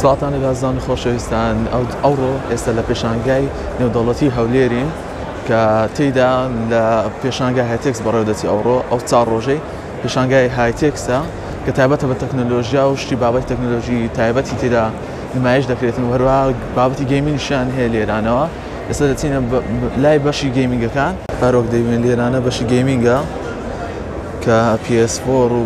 سڵاوتان لە دازدان و خۆشەویستان ئەوڕۆ ئێستا لە پێشانگای نێودەوڵەتی هەولێرین کە تێیدا لە پێشانگای هایتێکس بەڕێودەچی ئەوڕۆ ئەو چار ڕۆژەی پێشانگای هایتێکسە کە تایبەتە بە تەکنەلۆژیا و شتی بابەتی تەکنەلۆژی تایبەتی تێدا نمایش دەکرێتن وەروە بابەتی گەیمنیشیان هەیە لێرانەوە ئێستا دەچینە لای بەشی گەیمنگەکان پارۆک دەیوێن لێرانە بەشی گەیمنگە کە PS4 و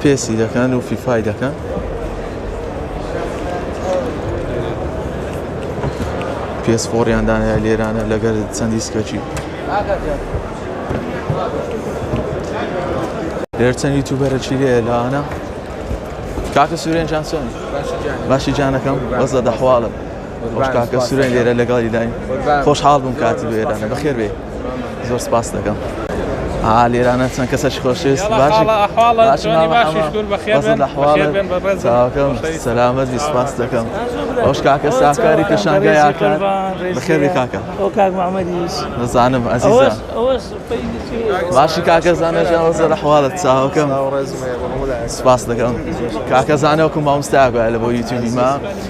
پێسی دەکەن و فیفای دەکەن پێس فۆڕیان دانای لێرانە لەگەر چەند دیسکەکی لێر چەند یوتوبەرەکی لێ لەوانە کاکە سورێن جان چۆن باشی جانەکەم بەس لە دەحواڵم کاکە سورێن لێرە لەگەڵی داین خۆشحاڵ بووم کاتی بێرانە بەخێر بێ زۆر سپاست دەکەم لێرانە چەند کەسەش خۆشویست سەلامەت سپاس دەکەم ئەوش کاکە ساکاری پێشانگایکە بەخێری کاکە نزانم ئەزیزە باشی کاکە زانەژەوە زەر حواڵت چاوەکەم سپاس دەکەم کاکە زانەوەکو مامستاگوایە لە بۆ یوتیوبی ما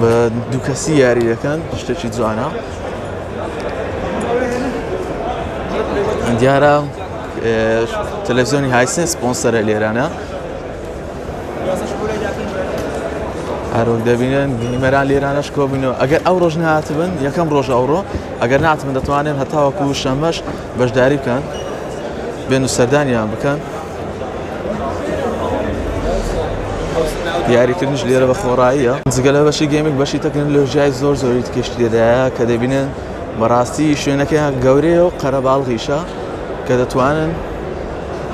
بە دووکەسی یاری دەکەن شتێکی جوانە دیارە تەلەڤزیۆنی هایسن سپۆنسەرە لێرانە هەرۆک دەبینن گەیمەران لێرانەش کۆبنەوە ئەگەر ئەو ڕۆژ نهاتبن یەکەم ڕۆژ ئەوڕۆ ئەگەر ناتمن دەتوانن هەتاوەکو شەمەش بەشداری بکەن بێن و سەردانیان بکەن دیاریکردنیش لێرە بە خۆڕاییە جگە لە بەشی گەیمنگ بەشی تەکنەلۆژیای زۆر زۆری تکێشی لێدایە کە دەبینن بەڕاستی شوێنەکەیان گەورەیە و قەرەباڵغیشە کە دەتوانن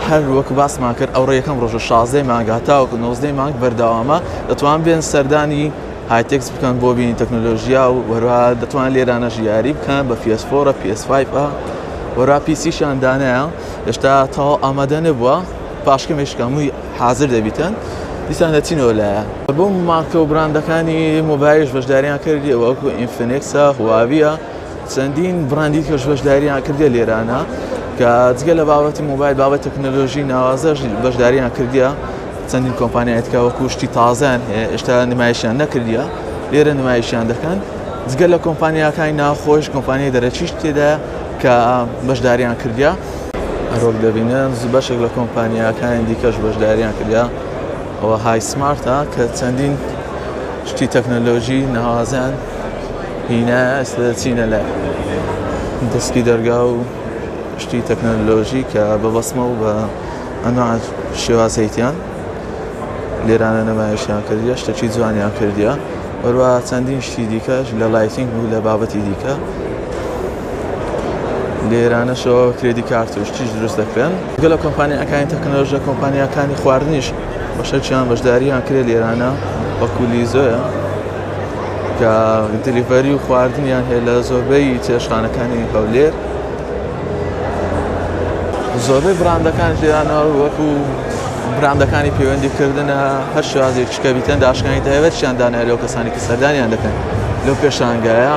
هەر وەک باسمان کرد ئەو ڕێکەم ڕۆژە شازدەی مانگ هەتاوەکو نۆزدەی مانگ بەردەوامە دەتوان بێن سەردانی هایتێکس بکەن بۆ بینی تەکنۆلۆژیا و وەروها دەتوان لێرانە ژیاری بکەن بە پێسفۆرە پێسفایفە وەرا پیسیشان دانایە هێشتا تەواو ئامادە نەبووە پاش کەمێش کەمووی حاضر دەبیتن دیسان دەچینەوە لایە بۆ مارکە و براندەکانی مۆبایش بەشداریان کردی وەکو ئینفنێکسە هواویە چەندین براندی کەش بەشداریان کردی لێرانە کە جگە لە بابەتی مۆبایل بابەت تەکنەلۆژی ناوازەش بەشداریان کردیە چەندین کۆمپانیایتکە وەکو شتی تازان هەیە ئێشتا نمایشیان نەکردە لێرە نمایشیان دەکەن جگە لە کۆمپانیاکانی ناخۆش کۆمپانیای دەرەچیش تێدا کە بەشداریان کردیا. هەروەک دەبینن بەشێک لە کۆمپانیاکانی دیکەش بەشداریان کردا ئەوە های سمارتە کە چەندین شتی تەکنەلۆژی ناوازیان هینا ئێستا دەچینە لای دەستکی دەرگا و شتی تەکنەلۆژی کە بە بەسمە و بە ئەنوا شێوازەیتیان لێرانە نەمایشیان کردە شتەکی جوانیان کردە وەروە چەندین شتی دیکەش لە لایتنگ بوو لە بابەتی دیکە لێرانەشەوە کرێدی کارت و شتیش دروست دەکرێن گەلە کۆمپانیەکانی تەکنەلۆژە کۆمپانیەکانی خواردنیش بەشەرچیان بەشداریان کرێت لێرانە وەکولی زۆە کە دلیڤەری و خواردنیان هەیە لە زۆربەی چێشخانەکانی هەولێر زۆربەی براندەکان لێرانەوە وەکو براندەکانی پەیوەندیکردنە هەر شازێک شکە بیتەن داشکانی داێوەرچیان دانای لەو کەسانی کە سەردانیان دەکەن لەو پێشانگایە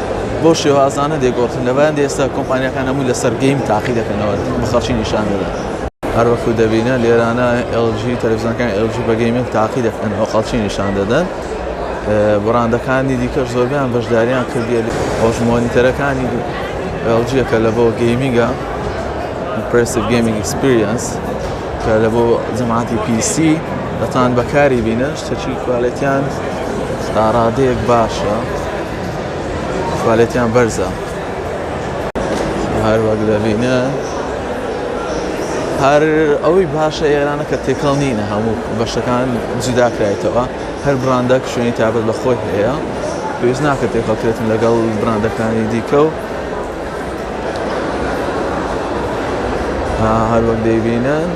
بەو شێوازانە دەیگۆڕدرێن، لەبەرانە ئێستا کۆمپانیاکان هەمووی لەسەر گەیم تاقی دەکەنەوە بە خەڵکی نیشان دەدەن. هەر وەکو دەبینن لێرانە ئێڵ جی، تەلەفزیۆنەکانی ئێڵ جی بە گەیمینگ تاقی دەکەنەوە خەڵکی نیشان دەدەن، بڕاندەکانی دیکەش زۆربەیان بەشدارییان کردیە، ئەوەش مۆنیتەرەکانی ئێڵ جیە کە لە بۆ گەیمینگە Impressive Gaming Experience کە لە بۆ جەماعەتی پی سی دەتوان بەکاری بینن، شتەکی کوالێتیان تا ڕادەیەک باشە. کوالێتیان بەرزە هەر وەک دەبینە هەر ئەوەی باشە ئێرانە کە تێکەڵ نینە هەموو بەشەکان جوداکرایتەوە هەر براندە شوێنی تابەت بە خۆی هەیە پێویست ناکە تێکەڵکرێتن لەگەڵ براندەکانی دیکە و هەر وەک دەیبینن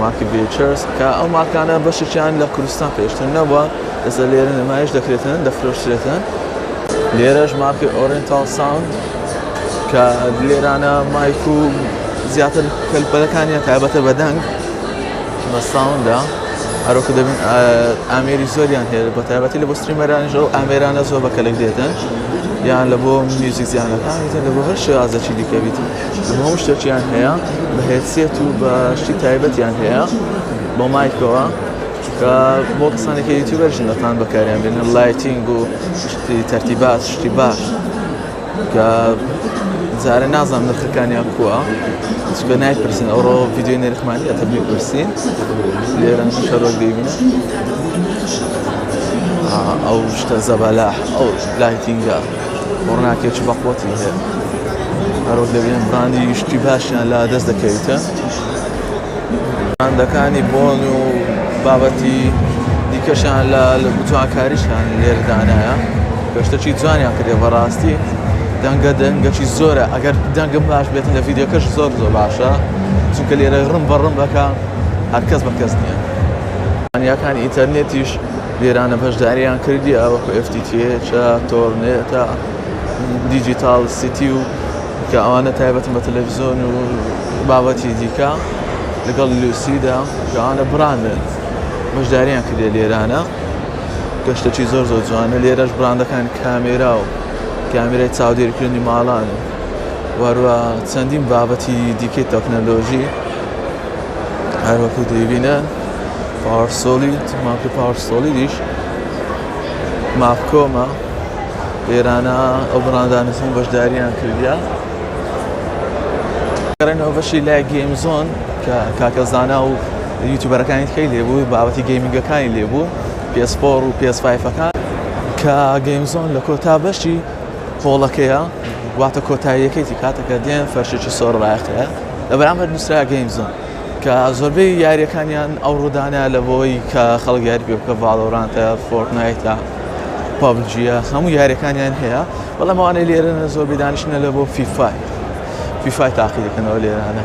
مارکی بێچرس کە ئەو مارکانە بەشێکیان لە کوردستان پێشتر نەبووە ئێستا لێرە نمایش دەکرێتن دەفرۆشترێتن لێرەش مارکی ئۆرنتال ساوند کە لێرانە مایک و زیاتر کەلپەلەکانیان تایبەتە بەدەنگ بە ساوندا هەرۆکە دەبن ئامێری زۆریان هەیە بە تایبەتی لە بۆ ستریمەرانیش ئەو ئامێرانە زۆر بە کەلک دێتن یان لە بۆ میوزیک زیانەکان یتە لە بۆ هەر شێوازەکی دیکەویت هەموو شتێکیان هەیە بە هێسیەت و بە شتی تایبەتیان هەیە بۆ مایکەوە چونکە بۆ کەسانی کە یوتیوبەر ژنەکان بەکاریان بێنن لایتینگ و شتی تەرتیبات شتی باش کە جارە نازانم نرخەکانیان کووە چکە نایپرسین ئەوڕۆ ویددیوی نرخمانی ئەتە بپرسین لێرە شەرۆک دەیبین ئەو شتە زەبەلا ئەو لایتینگە ڕناکێک بە قوتی هەیە هەرۆک دەبێن براندی یشتی باشیان لا دەست دەکەویتە براندەکانی بۆن و بابەتی دیکەشیان لە جوانکاریشیان لێرە دانایە کە شتەکی جوانیان کردێ بەڕاستی دەنگە دەنگەکی زۆرە ئەگەر دەنگم باش بێت لە ڤیددیوکەش زۆر زۆر باشە چونکە لێرە ڕم بە ڕم بەکە هەرکەس بە کەس نییە ئەنیەکانی ئینتەرنێتیش لێرانە بەشداریان کردی ئەوە FTTH تۆرنێتە دیجیتال سیتی و کە ئەوانە تایبەتن بە تەلەفزیۆن و بابەتی دیکە لەگەڵ لوسیدا کە ئەوانە براندن بەشداریان کردێ لێرانە گەشتەکی زۆر زۆر جوانە لێرەش براندەکان کامێرا و کامێرای چاودێرکردنی ماڵان و وەروە چەندین بابەتی دیکەی تەکنەلۆژی هەروەکو دەیبینە پاورسۆلیت ماپی پاورسۆلیدیش مافکۆمە ئێرانە ئەو بڕاندانە چۆن بەشداریان کردیا گەڕێنەوە بەشی لای گەیم زۆن کە کاکە زانا و یوتوبەرەکانی تکەی لێبوو بابەتی گەیمنگەکانی لێبوو پێسپۆر و پێسفایفەکان کە گەیم زۆن لە کۆتا بەشی قۆڵەکەیە واتە کۆتاییەکەی کاتەکە دێن فەرشێکی سۆر ڕایەخەیە لە بەرامبەر نووسرا گەیم زۆن کە زۆربەی یاریەکانیان ئەو ڕوودانە لە بۆی کە خەڵک یاری پێ بکە ڤاڵۆرانتە فۆرتنایتە پابجیە هەموو یاریەکانیان هەیە بەڵام ئەوانەی لێرەنە زۆر بێدانشنە لە بۆ فیفای فیفای تاقی دەکەنەوە لێرانە